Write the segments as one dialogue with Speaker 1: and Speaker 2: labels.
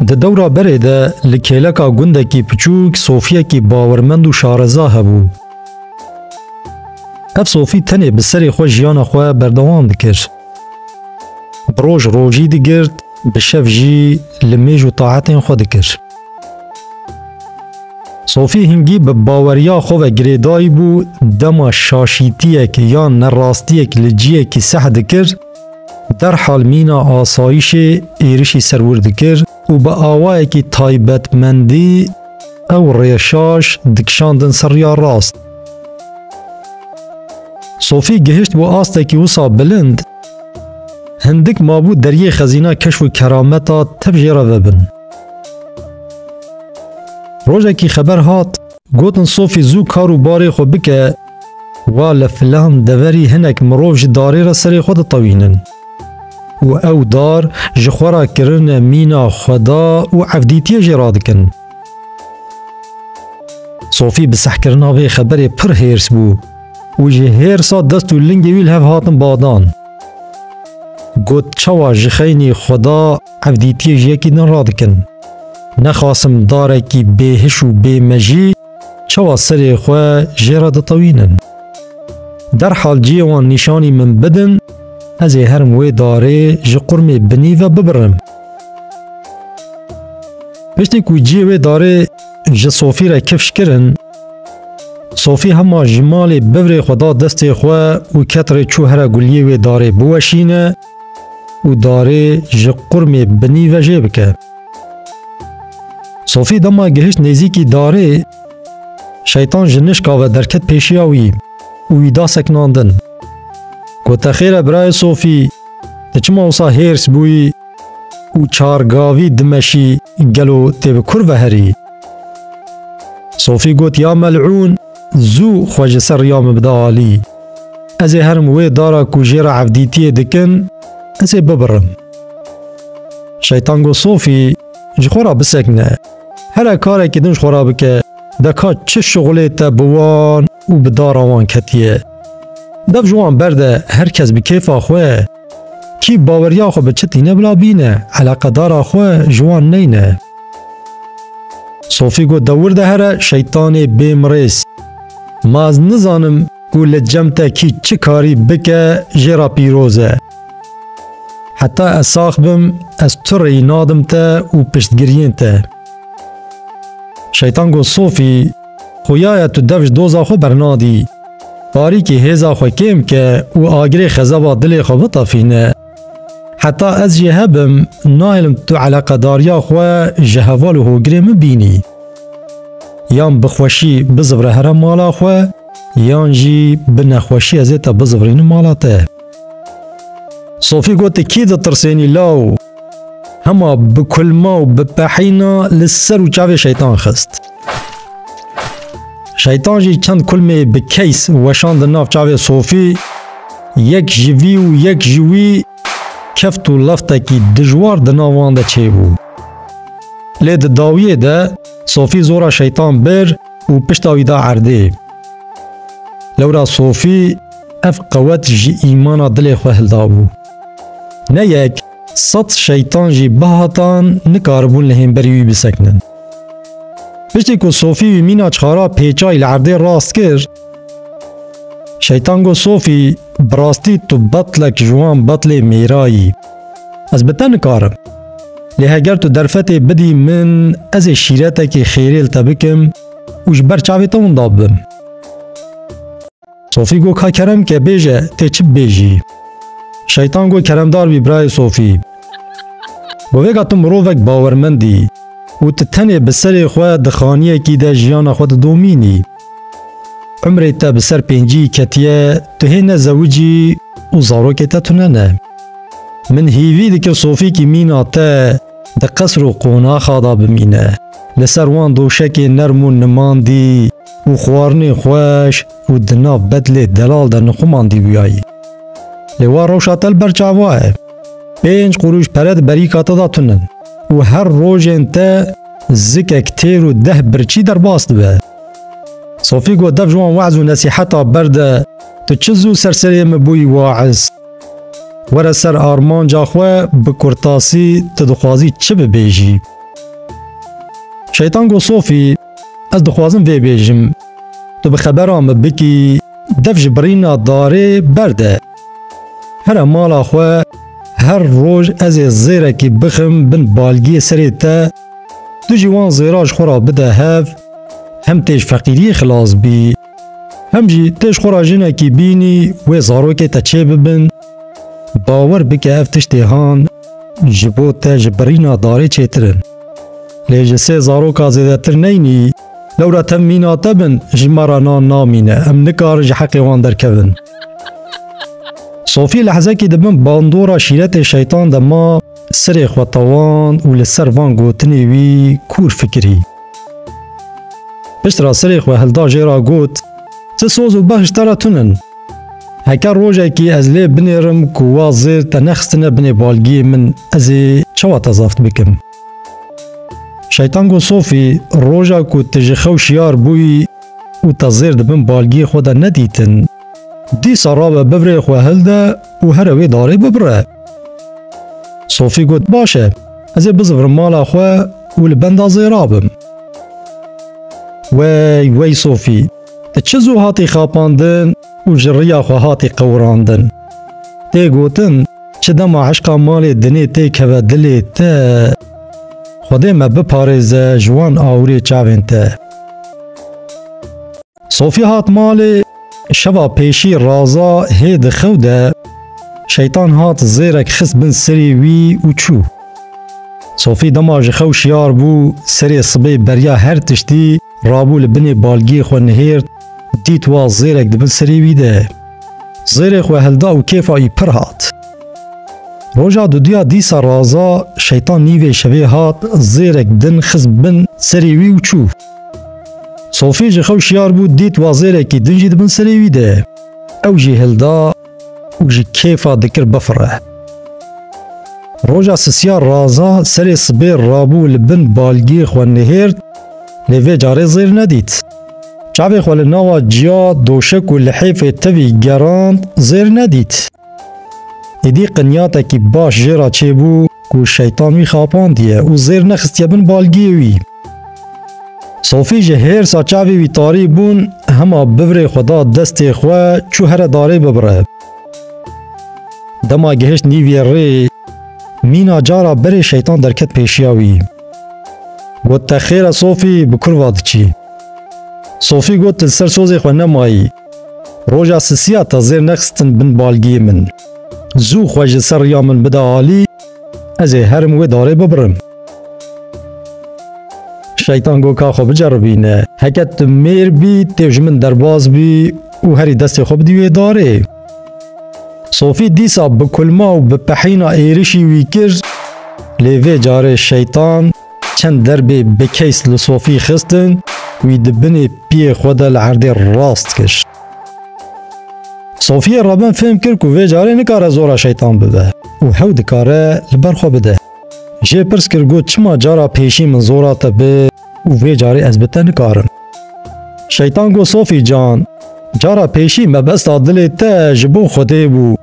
Speaker 1: Di dewra berê de li kêleka gundekî piçûk sofiyekî bawermend û şareza hebû. Ev sofî tenê bi serê xwe jiyana xwe berdewam dikir. Bi roj rojî digirt, bi şev jî li mêj û taetên xwe dikir. Sofî hingî bi baweriya xwe ve girêdayî bû dema şaşîtiyek yan nerastiyek li ciyekî seh dikir, Derhal mîna asayîşê êrişî ser wir dikir û bi awayekî taybetmendî ew rêşaş dikişandin ser riya rast. Sofî gihişt bo astekî wisa bilind, hindik mabû deriyê xezîna keşf û kerameta tev jê re vebin. Rojekî xeber hat Gotin Sophie zû kar û barê xwe bike, wa li filan deverî hinek mirov ji darê re serê xwe ditewînin. Û ew dar ji xwe re kirine mîna xweda û evdîtiyê jê radikin. Sophie bi sehkirina vê xeberê pir hêrs bû û ji hêrsa dest û lingê wî li hev hatin badan. Got çawa ji xeynî xweda Ev dîtiyê ji yekî din radikin. Nexwasim darekî bêhiş û bêmejî çawa serê xwe jê re ditewînin. Derhal cihê wan nîşanî min bidin, ez ê herim wê darê ji qurmê binî ve bibirim. Piştî ku cihê wê darê ji Sofî re kifş kirin, Sofî hema ji malê bivrê xwe da destê xwe û ket rê çû here guliyê wê darê biweşîne, û darê ji qurmê binî ve jê bike. Sofî dema gihişt nêzîkî darê, şeytan ji nişka ve derket pêşiya wî û wî da seknandin. Ku te xêr e birayê Sofî, tu çima wisa hêrs bûyî û çar gavî dimeşî gelo tê bi kur ve herî? Sofî got ya mel'ûn! Zû xwe ji ser riya min bide alî. Ez ê herim wê dara ku jê re evdîtiyê dikin, ez ê bibirim. Şeytan got Sofî, ji xwe re bisekine. Here karekî din ji xwe re bike, deka çi şixulê te bi wan û bi dara wan ketiye. Dev ji wan berde, her kes bi kêfa xwe. Kî baweriya xwe bi çi tîne bila bîne, eleqedara xwe ji wan neyne. Sofî got dewir de here şeytanê bêmirêz. Ma ez nizanim ku li cem te kî çi karî bike jê re pîroz e. Heta ez sax bim ez tu rêyî nadim te û piştgiriyên te. Şeytan got Sofî Xuyaya tu dev ji doza xwe bernadî. Tarîkî hêza xwe kêm bike û agirê xezeba dilê xwe bitefîne. Heta ez jê hebim, nahêlim tu eleqedariya xwe ji heval û hogirê min bînî. Yan bi xweşî bizivire here mala xwe, yan jî bi nexweşî ez ê te bizivirînim mala te. Sofî got, Kî ditirsênî law? Hema bi kulma û bi pehîna li ser û çavê şeytan xist. Şeytan jî çend kulmê bi keys weşandin nav çavê Sofî, yek ji vî û yek ji wî keft û leftekî dijwar di nav wan de çêbû. Lê di dawiyê de Sofî zora şeytan bir û pişta wî da erdê. Lewra Sofî ev qewet ji îmana dilê xwe hildabû. Ne yek, sed şeytan jî bihatan nikaribûn li hênberî wî bisekinin. Piştî ku Sofî wî mîna çixara pêçayî li erdê rast kir, şeytan got Sofî, bi rastî tu betlek ji wan betlê mêra yî. Ez bi te nikarim. Lê heger tu derfetê bidî min, ez ê şîretekî xêrê li te bikim û ji ber çavê te winda bibim. Sofî got ka kerem ke bêje tê çi bibêjî. Şeytan got keremdar bî birayê Sofî. Bi vê ka tu mirovek bawermend î û tu tenê bi serê xwe di xaniyekî de jiyana xwe didomînî. Umrê te bi ser pêncîyî ketiye, tu hê ne zewicî û zarokê te tune ne. Min hîvî dikir Sofî kî mîna te di qesr û qonaxa de bimîne, li ser wan doşekê nerm û nimandî, û xwarinên xweş û di nav bedlê delal de nixuman dîbûyayî. Lê wa rewşa te li ber çava ye. Pênc qurûş pere di berîka te de tune û her rojên te zikek têr û deh birçî derbas dibe. Sofî got, Dev ji wan we'z û nesîheta berde, tu çi zû ser serê min bûyî wa'iz. Were ser armanca xwe, bi kurtasî tu dixwazî çi bibêjî? Şeytan got, Sofî, Ez dixwazim vê bêjim. Tu bi xebera min bikî dev ji birîna darê berde. Here mala xwe her roj ez ê zêrekî bixim bin balgiyê serê te, tu jî wan zêra ji xwe re bide hev, hem têj feqîriyê xilas bî. Hem jî tu ji xwe re jinekî bînî wê zarokê te çê bibin, bawer bike ev tiştê han ji bo te ji birîna darê çêtir in. Lê ji sê zaroka zêdetir neynî, lewra te mîna te bin ji me re nan namîne, em nikarin ji heqê wan derkevin. Sofî lehzekî di bin bandora şîretê şeytan de ma, sirê xwe tewan û li ser van gotinê wî kûr fikirî. Pişt ra serê xwe hilda jê ra got, Ti soz û behş te re tun in. Heke rojekî ez lê binêrim ku wa zêr te nexistine binê balgiyê min ez ê çawa te zaft bikim. Şeytan got Sofî, roja ku ti ji xew şiyar bûyî û te zêr di bin balgiyê xwe de nedîtin, dîsa rabe bivrê xwe hilde û here wê darê bibire. Sofî got Baş e. Ez ê bizivrim mala xwe û li benda zêra bim. Wey wey Sofî, tu çi zû hatî xapandin û ji riya xwe hatî qewirandin. Tê gotin çi dema eşqa malê dinê tê keve dilê te. Xwedê me biparêze ji wan awirê çavên te. Sofî hat malê şeva pêşî raza hê di xew de şeytan hat zêrek xist bin serî wî û çû. Sofî dema ji xew şiyar bû serê sibê beriya her tiştî rabû li binê balgiyê xwe nihêrt dît wa zêrek di bin serî wî de. Zêrê xwe hilda û kêfa wî pir hat. Roja duduya dîsa raza şeytan nîvê şevê hat zêrek din xist bin serî wî û çû. Sofî ji xew şiyar bû dît wazêrekî din jî di bin serê wî de. Ew jî hilda û ji kêfa dikir bifire. Roja sisiya raza serê sibê rabû li bin balgî xwe nihêrt lê vê carê zêr nedît. Çavê xwe li nawa ciya, doşek û lihêfê tevî gerand zêr nedît. Êdî qinyatekî baş jê re çêbû ku şeytan wî xapandiye û zêr nexistiye bin balgiyê wî. Sofî ji hêrsa çavê wî tarî bûn hema bivirê xwe da destê xwe çû here darê bibire. Dema gihişt nîviyê rê mîna cara berê şeytan derket pêşiya wî. Got te xêr e Sofî bi kurva diçî. Sofî got li ser sozê xwe nemayî. Roja sisiya te zêr nexistin bin balgiyê min. Zû xwe ji ser riya min bide alî, ez ê herim wê darê bibirim. Şeytan got ka xwe biceribîne. Heke tu mêr bî, têw ji min derbas bî û herî destê xwe bidî wê darê. Sofî dîsa bi kulma û bi pehîna êrişî wî kir, lê vê carê şeytan Çend derbê bi keys li sofî xistin, wî di binê piyê xwe de li erdê rast kir. Sofiyê Rabin fêm kir ku vê carê nikare zora şeytan bibe û hew dikare li ber xwe bide. Jê pirs kir got çima cara pêşî min zora te bi û vê carê ez bi te nikarim. Şeytan got Sofî can, cara pêşî mebesta dilê te ji bo Xwedê bû.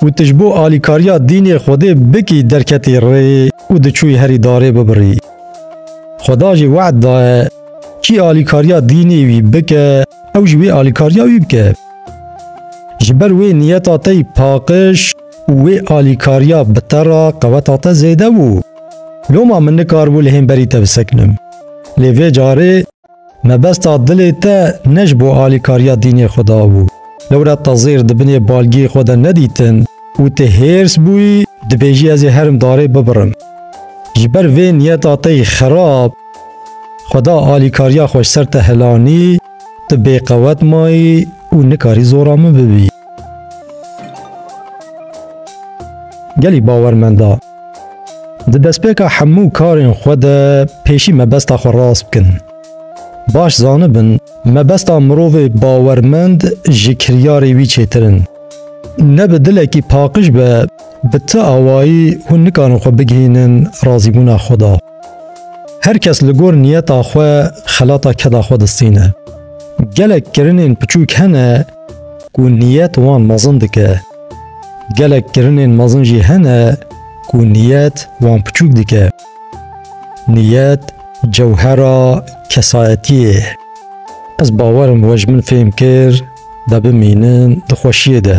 Speaker 1: Û tu ji bo alîkariya dînê Xwedê bikî derketî rê û diçûyî herî darê bibirî. Xweda jî we'd daye, kî alîkariya dînê wî bike, ew jî wê alîkariya wî bike. Ji ber wê niyeta te yî paqiş û wê alîkariya bi te re qeweta te zêde bû. Loma min nikaribû li hênberî te bisekinim. Lê vê carê Mebesta dilê te ne ji bo alîkariya dînê xwe de bû. Lewre te zêr di binê balgiyê xwe de nedîtin û tu hêrs bûyî dibêjî ez ê herim darê bibirim. Ji ber vê niyeta te yê xerab Xweda alîkariya xwe ji ser te helanî, tu bêqewet mayî û nikarî zora min bibî. Gelî bawermend a. Di destpêka hemû karên xwe de pêşî mebesta xwe rast bikin. Baş zanibin mebesta mirovê bawermend ji kiryarê wî çêtir in. Ne bi dilekî paqij be bi ti awayî hûn nikarin xwe bigihînin razîbûna xwe da. Her kes li gor niyeta xwe xelata keda xwe distîne. Gelek kirinên piçûk hene ku niyet wan mezin dike. Gelek kirinên mezin jî hene ku niyet wan piçûk dike. Niyet cewhera kesayetiyê ye. Ez bawer im we ji min fêm kir de bimînin di xweşiyê de.